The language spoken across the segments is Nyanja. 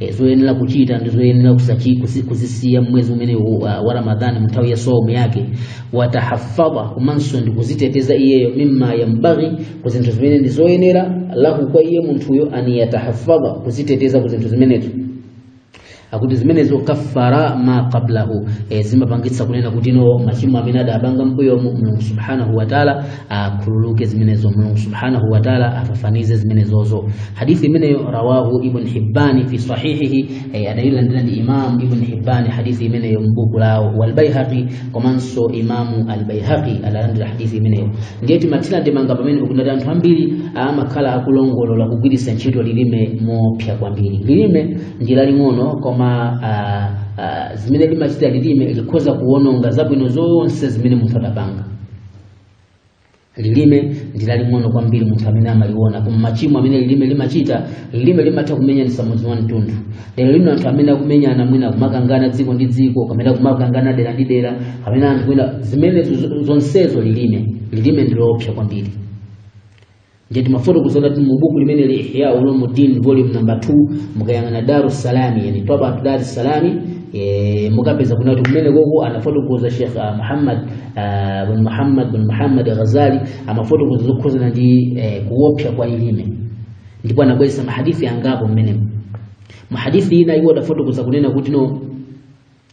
e, zoyenera kuchita ndi zoyenera kusachi- kusi- kuzisiya mmwezi umene wa, wa ramadhani mnthawi ya saumu yake watahafadha komanso ndi kuziteteza iyeyo mimma yambaghi ku zinthu zimene ndi zoyenera lahu kwa iye munthuyo an yatahafadha kuziteteza ku zinthu zimenezo akuti zimenezo kaffara ma qablahu e, zimapangitsa kunena kuti no machimo amene adapanga mbuyomu mulungu subhanahu wa taala akhululuke zimenezo mulungu subhanahu wa taala afafanize zimenezozo hadithi imeneyo rawahu ibn hibbani fi sahihihi eh, adailandira imam ibn hibbani hadithi imeneyo mbuku lawo walbaihaqi komanso imamu albaihaqi adalandira hadithi imeneyo ndiye timathira ndemanga pamene pakunena kuti anthu ambiri amakhala akulongolola kugwiritsa ntchito lilime moopsa kwambiri lilime ndi laling'ono koma ah, ah, zimene limachita lilime likhoza kuwononga zabwino zonse zimene munthu adapanga lilime ndi laling'ono kwambiri munthu amene amaliona koma machimo amene lilime limachita lilime limatha kumenyanitsa mudzi wa mtunthu lero lino anthu amene akumenyana mwina kumakangana dziko ndi dziko kapena kumakangana dera ndi dera kapena anthu mwina zimenezo zo- zonsezo lilime lilime ndi loopsa kwambiri ndiye timafotokoza kuti mu buku limeneli ihya ulumuddin volume number 2 mukayang'ana daru salami yani twaba daru salami e, mukapeza kunena kuti kumenekoko anafotokoza Sheikh ah, Muhammad ah, bin Muhammad bin Muhammad Ghazali amafotokoza zokhuzana ndi eh, kuopsa kwa lilime ndipo anabweretsa mahadithi angapo mmenemo mahadithi ina iwo adafotokoza kunena kuti no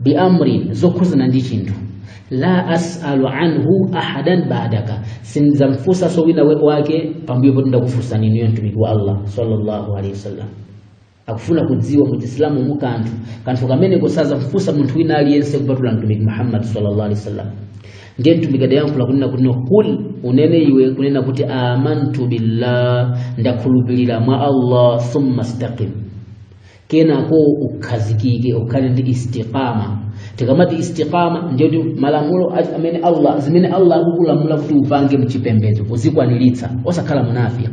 bi amrin zokhuzana ndi chinthu la as'alu anhu ahadan ba'daka sindizamfunsanso wina we- wake pambuyo poti ndakufunsani inuyo mtumiki wa allah sallallahu alaihi wasallam akufuna kudziwa mu chisilamu mu kanthu kanthu kameneko sazamfunsa munthu wina aliyense kupatula mtumiki muhammad sallallahu alaihi wasallam ndiye mtumiki adayankhula kunena kuti no kul unene iwe kunena kuti amantu billah ndakhulupirira mwa allah thumma staqim kenako ukhazikike ukhale ndi istiqama tikamati istiqama ndiye kuti malamulo a- amene allah zimene allah akukulamula kuti upange mchipembedzo uzikwaniritsa osakhala munafiki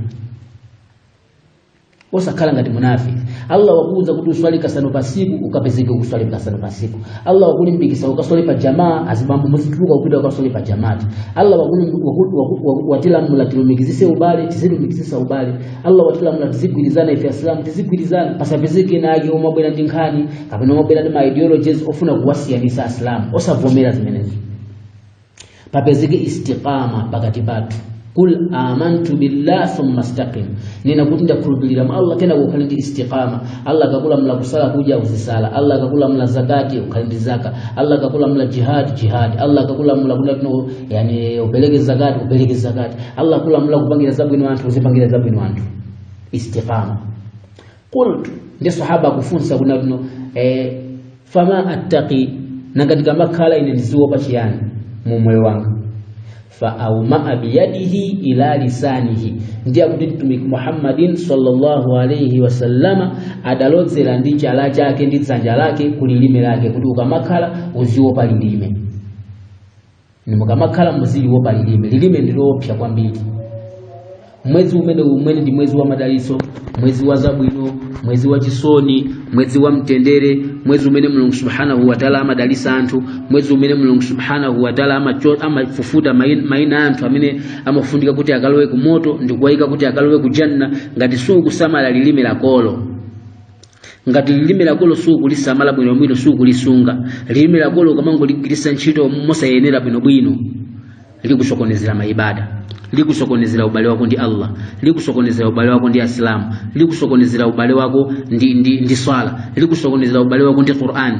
osakhala ngati munafiki allah wakuuza kuti uswali kasanu patsiku ukapezeke ukuswali kasanu patsiku allah wakulimbikitsa ukaswali pa jamaa azibambo muzituluka kupita kukaswali pa jamati allah wakulim- waku- waku- waku- watilamula tilumikizitse ubale tizilumikizitsa ubale allah watilamula tizigwirizana ife asilamu tizigwirizana pasapezeke ena ake omabwera ndi nkhani kapena omabwera ndi ma ideologies ofuna kuwasiyanitsa asilamu osavomera zimenezo papezeke istiqama pakati pathu kul amantu billah thumma staqim nena kuti ndakhulupirira mwa allah kenako ukhale ndi istiqama allah akakulamula kusala kuja uzisala allah akakulamula zakati ukhale ndi zaka allah akakulamula jihad jihad allah akakulamula kuna yani upeleke zakati upeleke zakati allah kulamula kupangira zabwino anthu uzipangira zabwino anthu istiqama qultu ndi sahaba akufunsa kunena kuti eh, fama attaqi nanga ndikamakhala ine ndiziopa chiyani mu moyo wanga faaumaa biyadihi ila lisanihi ndiye kuti mtumiki muhammadin sallallahu alaihi wasallama adalozera ndi chala chake ndi dzanja lake ku lilime lake kuti ukamakhala uziopa lilime Inu mukamakhala muziliopa lilime lilime ndi loopsa kwambiri mwezi umene umenewu ndi mwezi wa madalitso mwezi wa zabwino mwezi wa chisoni mwezi wa mtendere mwezi umene mulungu subhanahu wataala amadalitsa anthu mwezi umene mulungu subhanahu wataala amacho- amafufuta main- maina a anthu amene amafunika kuti akalowe ku moto ndi kuwayika kuti akalowe ku janna ngati sukusamala lilime lakolo ngati lilime lakolo sukulisamala bwinobwino sukulisunga lilime lakolo ukamangoligwiritsa ntchito mosayenera bwinobwino likusokonezera maibada likusokonezera ubale wako ndi allah likusokonezera ubale wako ndi asilamu likusokonezera ubale wako ndi, ndi, ndi swala likusokonezera ubale wako ndi qur'ani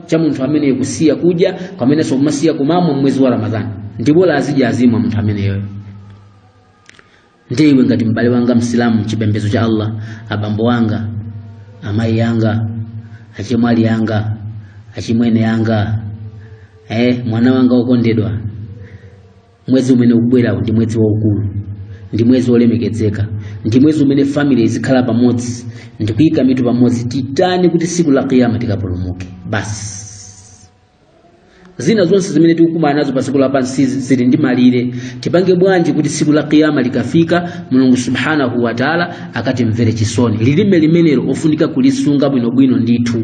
cha munthu ameneyo kusiya kudya komanso kumasiya kumamwa mwezi wa ramadhani ndi bola azidya azimwa munthu ameneyoyo ndiye iwe ngati m'bale wanga msilamu chipembedzo cha allah abambo wanga amayi anga achemwali anga achimwene anga eh, mwana wanga wokondedwa mwezi umene ukubwerawu ndi mwezi waukulu ndi mwezi wolemekezeka ndi mwezi umene family izikhala pamodzi ndi kuyika mitu pamodzi titani kuti siku la kiyama tikapulumuke basi zina zonse zimene tikukumana nazo pa dziko lapansi zili ndi malire tipange bwanji kuti siku la kiyama likafika mulungu subhanahu wa taala akatimvere chisoni lilime limenelo lofunika kulisunga bwinobwino ndithu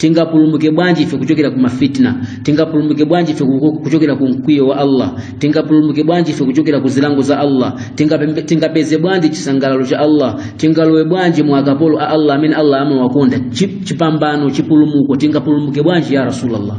tingapulumuke bwanji ife kuchokera ku mafitna tingapulumuke bwanji ife ku- kuchokera ku mkwiyo wa allah tingapulumuke bwanji ife kuchokera ku zilango za allah Tingapembe- tingapeze bwanji chisangalalo cha allah tingalowe bwanji mu akapolo a allah amene allah amawakonda Chi- chipambano chipulumuko tingapulumuke bwanji ya rasulallah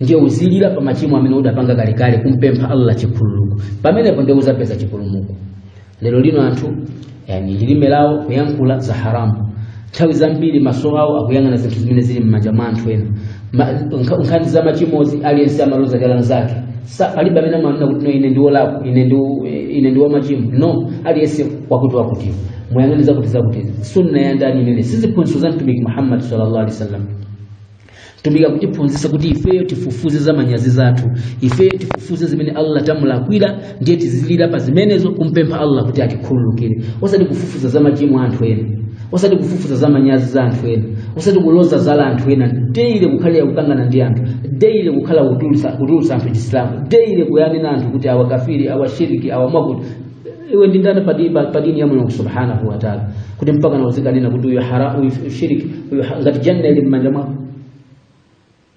ndiye uzilira pa machimo amene udapanga kalekale kumpempha allah chikhululuko pamenepo ndiye uzapeza chipulumuko lero lino anthu yani lilime lawo kuyankhula za haramu nthawi zambiri maso awo akuyang'ana zinthu zimene zili m'manja mwa anthu ena Ma- nkha- nkhani za machimozi aliyense amaloza chala mzake Sa- palibe amene amanena kuti no ine ndi wolakwa ine ndi ine ndi wamachimo no aliyense wakuti wakutiwo muyang'ane zakuti zakuti sunna ya ndani imeneyo si ziphunzitso za mtumiki muhammad sallallahu alaihi wasallam mtumiki akutiphunzitsa kuti ifeyo tifufuze za manyazi zathu ifeyo tifufuze zimene allah tamulakwira ndiye tizilira pa zimenezo kumpempha allah kuti atikhululukire osati kufufuza za machimo a anthu ena osati kufufuza za manyazi za anthu ena osati kuloza zala anthu ena deile kukhala yakukangana ndi anthu deile kukhala kutulutsa anthu chisilamu deile kuyanena anthu kuti awakafiri awashiriki awamwakuti iwe ndi ndani pa dini ya Mulungu subhanahu wa ta'ala kuti mpaka na uzikanena kuti uyu haramu uyu shiriki uyu ha- ngati janna ili mmanja mwako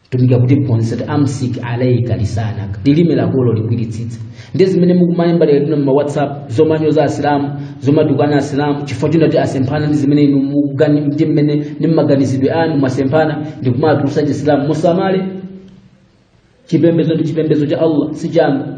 mtumiki akutiphunzitsa amsik alayka lisanaka lilime lakolo ligwiritsitse ndiye zimene mukumayamba lero lino ma whatsapp zomanyoza asilamu zomatukana asilamu chifukwa choti asemphana ndi zimene inu mugani- ndi mmene ndi mmaganizidwe anu mwasemphana ndi kumatulusa chisilamu musamale chipembedzo ndi chipembedzo cha allah si chanu